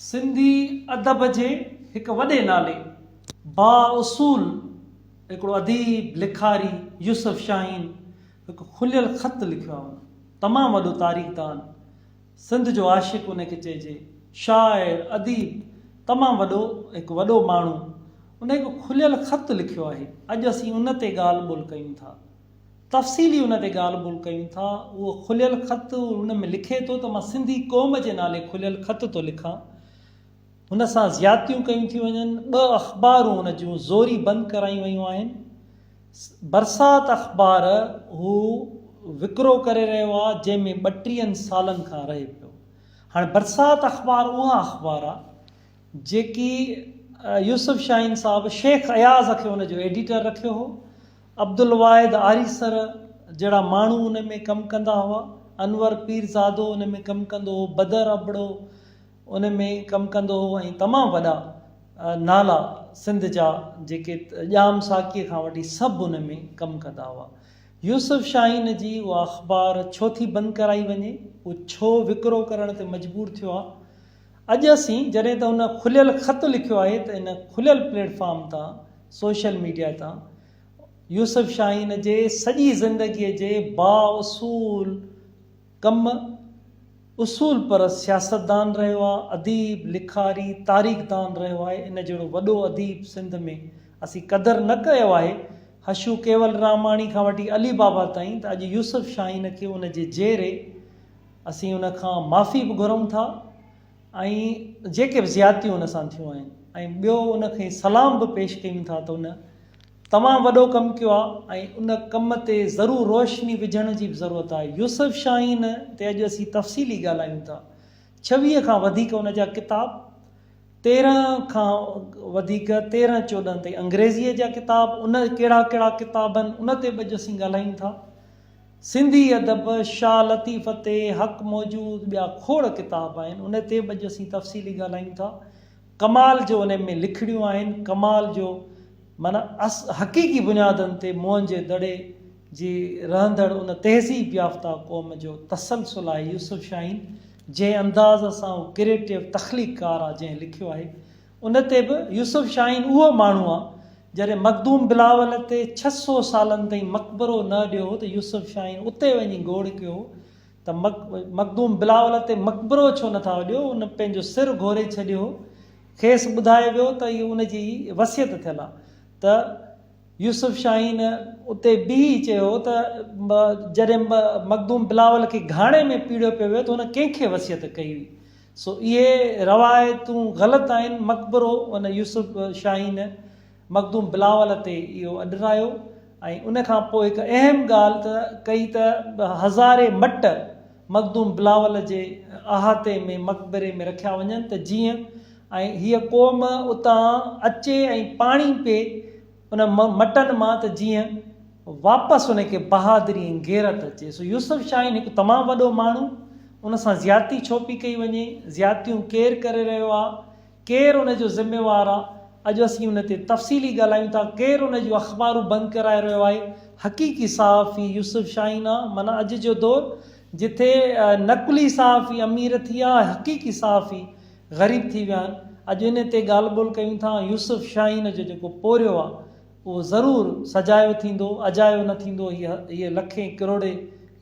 سنڌي ادب جي هڪ وڏي نالي بااصول هڪڙو اديب لکاري يوسف شاهين هڪ کليل خط لکيو آهي ان تمام وڏو تاريخ دان سنڌ جو عاشق ان کي چئجي شاعر اديب تمام وڏو هڪ وڏو ماڻهو ان هڪ کليل خط لکيو آهي اڄ اسين ان تي ڳالهه ٻولهه ڪيون ٿا. تفصيلي ان تي ڳالهه ٻولهه ڪيون ٿا. اهو کليل خط هن ۾ لکي ٿو ته مان سنڌي قوم جي نالي کليل خط ٿو لکان. هن سان زيادتيون ڪيون ٿيون وڃن. ٻه اخبارون هن جون زوري بند ڪرايون ويون آهن. برسات اخبار هو وڪرو ڪري رهيو آهي جنهن ۾ ٻٽيهن سالن کان رهي پيو. هاڻي برسات اخبار اها اخبار آهي جيڪي يوسف شاهين صاحب شيخ اياز کي ان جو ايڊيٽر رکيو هو. عبدالواحد آريسر جهڙا ماڻهو ان ۾ ڪم ڪندا هئا، انور پيرزادو ان ۾ ڪم ڪندو هو، بدر ابڙو ان ۾ ڪم ڪندو هو ۽ تمام وڏا نالا سنڌ جا جيڪي ڄام ساقيء کان وٺي سڀ ان ۾ ڪم ڪندا هئا. يوسف شاهين جي اها اخبار ڇو ٿي بند ڪرائي وڃي، هو ڇو وڪرو ڪرڻ تي مجبور ٿيو ها، اڄ اسين جڏهن ته هن کليل خط لکيو آهي ته ان کليل پليٽ فارم تان سوشل ميڊيا تان يوسف شاهين جي سڄي زندگي جي با اصول ڪم اصول پرست سياستدان رهيو آهي اديب لکاري تاريخ دان رهيو آهي ان جهڙو وڏو اديب سنڌ ۾ اسين قدر نه ڪيو آهي حشو ڪيولراماڻي کان وٺي علي بابا تائين ته اڄ يوسف شاهين کي ان جي جيئري اسين ان کان معافي به گهرون ٿا ۽ جيڪي به زيادتيون ان سان ٿيون آهن ۽ ٻيو ان کي سلام به پيش ڪيون ٿا ته ان تمام وڏو ڪم ڪيو آهي ۽ ان ڪم تي ضرور روشني وجهڻ جي به ضرورت آهي يوسف شاهين تي اڄ اسين تفصيلي ڳالهايون ٿا ڇويهه کان وڌيڪ ان جا ڪتاب تيرهن کان وڌيڪ تيرهن چوڏهن تائين انگريزيء جا ڪتاب ان ڪهڙا ڪهڙا ڪتاب آهن ان تي به اڄ اسين ڳالهايون ٿا سنڌي ادب، شاهه لطيف تي حق موجود ٻيا کوڙ ڪتاب آهن، ان تي به اڄ اسين تفصيلي ڳالهايون ٿا. ڪمال جو انهن ۾ لکڻيون آهن، ڪمال جو معنيٰ اس حقيقي بنيادن تي موهن جي دڙي جي رهندڙ ان تهذيب يافته قوم جو تسلسل آهي، يوسف شاهين جنهن انداز سان هو ڪريٽو تخليق ڪار آ جنهن لکيو آهي ان تي به يوسف شاهين اهو ماڻهو آ، جڏهن مخدوم بلاول تي ڇهه سؤ سالن تائين مقبرو نه اڏيو هو ته يوسف شاهين اتي وڃي گوڙ ڪيو هو ته مخدوم بلاول تي مقبرو ڇو نه ٿا اڏيو، ان پنهنجو سر گهوري ڇڏيو هو، کيس ٻڌايو ويو ته اهي ان جي وصيت ٿيل آ ته يوسف شاهين. اتي بيهي چيو هو ته جڏهن مخدوم بلاول کي گهاڻي ۾ پيڙيو پيو ويو ته هن ڪنهن کي وصيت ڪئي هئي؟ سو اهي روايتون غلط آهن، مقبرو ان يوسف شاهين مخدوم بلاول تي اهو اڏرايو ۽ ان کان پوء هڪ اهم ڳالهه ته ڪئي ته هزارين مٽ مخدوم بلاول جي احاطي ۾ مقبري ۾ رکيا وڃن ته جيئن ۽ هيء قوم اتان اچي ۽ پاڻي پي ان مٽن مان ته جيئن واپس ان کي بهادري ۽ غيرت اچي. سو يوسف شاهين هڪ تمام وڏو ماڻهو، ان سان زيادتي ڇو پي ڪئي وڃي؟ زيادتيون ڪير ڪري رهيو آ؟ ڪير ان جو ذميوار آ؟ اڄ اسين ان تي تفصيلي ڳالهايون ٿا. ڪير ان جون اخبارون بند ڪرائي رهيو آهي؟ حقيقي صحافي يوسف شاهين آ. معنيٰ اڄ جو دور جتي نقلي صحافي امير ٿي ويا آهن، حقيقي صحافي غريب ٿي ويا آهن اڄ انهي تي ڳالهه ٻولهه ڪيون ٿا ۽ يوسف شاهين جو جيڪو پورهيو آهي اهو ضرور سجايو ٿيندو اجايو نه ٿيندو هي هيء لکين ڪروڙي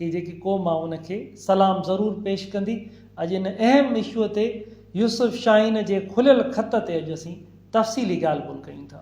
هي جيڪي قوم آهي ان کي سلام ضرور پيش ڪندي اڄ ان اهم اشوء تي يوسف شاهين جي کليل خط تي اڄ اسين تفصيلي ڳالهه ٻولهه ڪيون ٿا.